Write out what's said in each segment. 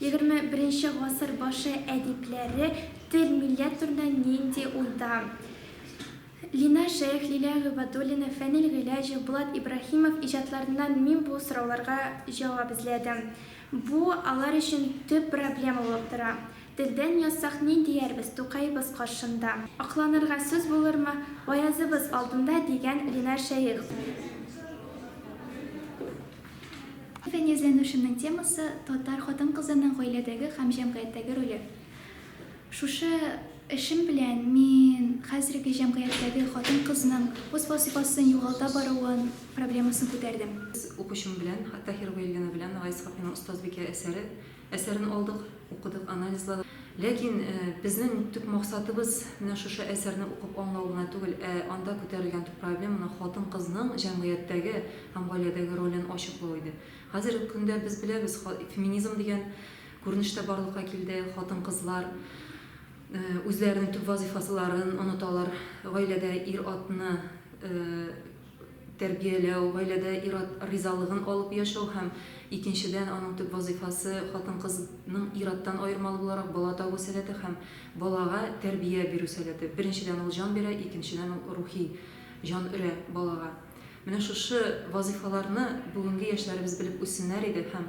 Егерме беренче гасыр башы әдипләре тел, милләт турында нинди уйда? Линар Шәех, Лилия Гыйбадуллина, Фәнил Гыйләҗев, Булат Ибраһимов иҗатларыннан мин бу сорауларга җавап эзләдем. Бу алар өчен төп проблема булып тора. Телдән язсак, ни диярбез Тукаебыз каршында? Акланырга сүз булырмы Гаязыбыз алдында, дигән Линар Шәех. Фәнияз-ләнүшемнең темасы, татар хатын-кызының гаиләдәге һәм җәмгыятьтәге роле. Шушы эшем белән мин хәзерге җәмгыятьтәге хатын-кызның үз вазыйфасын югалта баруын проблемасын күтәрдем. Үз укучым белән, Тахирова Елена белән Гайс Гапиның Остазбикә әсәре Әсәрен алдык, укыдык, анализладык. Ләкин безнең төп максатыбыз менә шушы әсәрне укып аңлау гына түгел, ә анда күтәрелгән төп проблеманы, хатын-кызның җәмгыятьтәге һәм гаиләдәге ролен ачыклау иде. Хәзерге көндә без беләбез, феминизм дигән күренеш тә барлыкка килде, хатын-кызлар үзләренең төп вазыйфасыларын оныталар, гаиләдә ир-атны, тәрбияләү, гаиләдә ир-ат ризалыгын алып яшәү һәм, икенчедән, аның төп вазыйфасы, хатын-кызның ир-аттан аермалы буларак, бала табу сәләте һәм балага тәрбия бирү сәләте. Беренчедән, ул җан бирә, икенчедән, ул рухи җан өрә балага. Менә шушы вазыйфаларны бүгенге яшьләребез белеп үссеннәр иде һәм,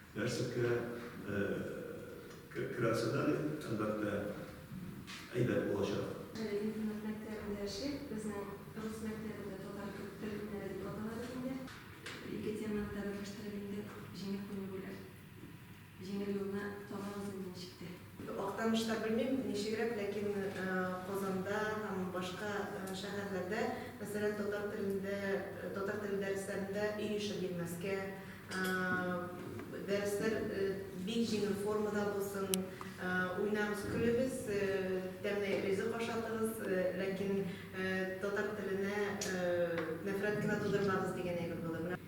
Нәрсәкә керәсе дә, әлбәттә, әйбәт булачак. Интернат мәктәбендә эшлик. Безнең рус мәктәбендә татар тел һөнәре дип атала бит инде. Ике теманы да берләштереп инде җиңел күнегүләр. Җиңел юлны табабыз инде ничек тә. Актанышта белмим, ничегрәк, ләкин Казанда һәм башка шәһәрләрдә, мәсәлән, татар телендә, татар теле дәресләрендә өй эше бирмәскә, дәресләр бик җиңел формада булсын, уйнагыз, көлегез, тәмле ризык ашатыгыз, ләкин татар теленә нәфрәт кенә тудырмагыз дигән әйбер булыр.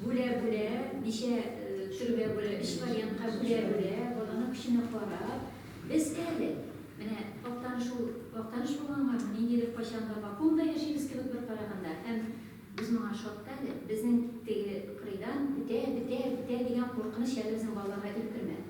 Бүлә-бүлә, ничә төргә бүлә, өч вариантка бүлә-бүлә, баланың көченә карап, без әле, менә Актаныш ул, Актаныш булганга ниндидер кайчанга вакуумда яшибез кебек бер караганда, һәм без моңа шат та әле, безнең теге кырыйдан бетә, бетә, бетә дигән куркыныч әле безнең балаларга илкермәде.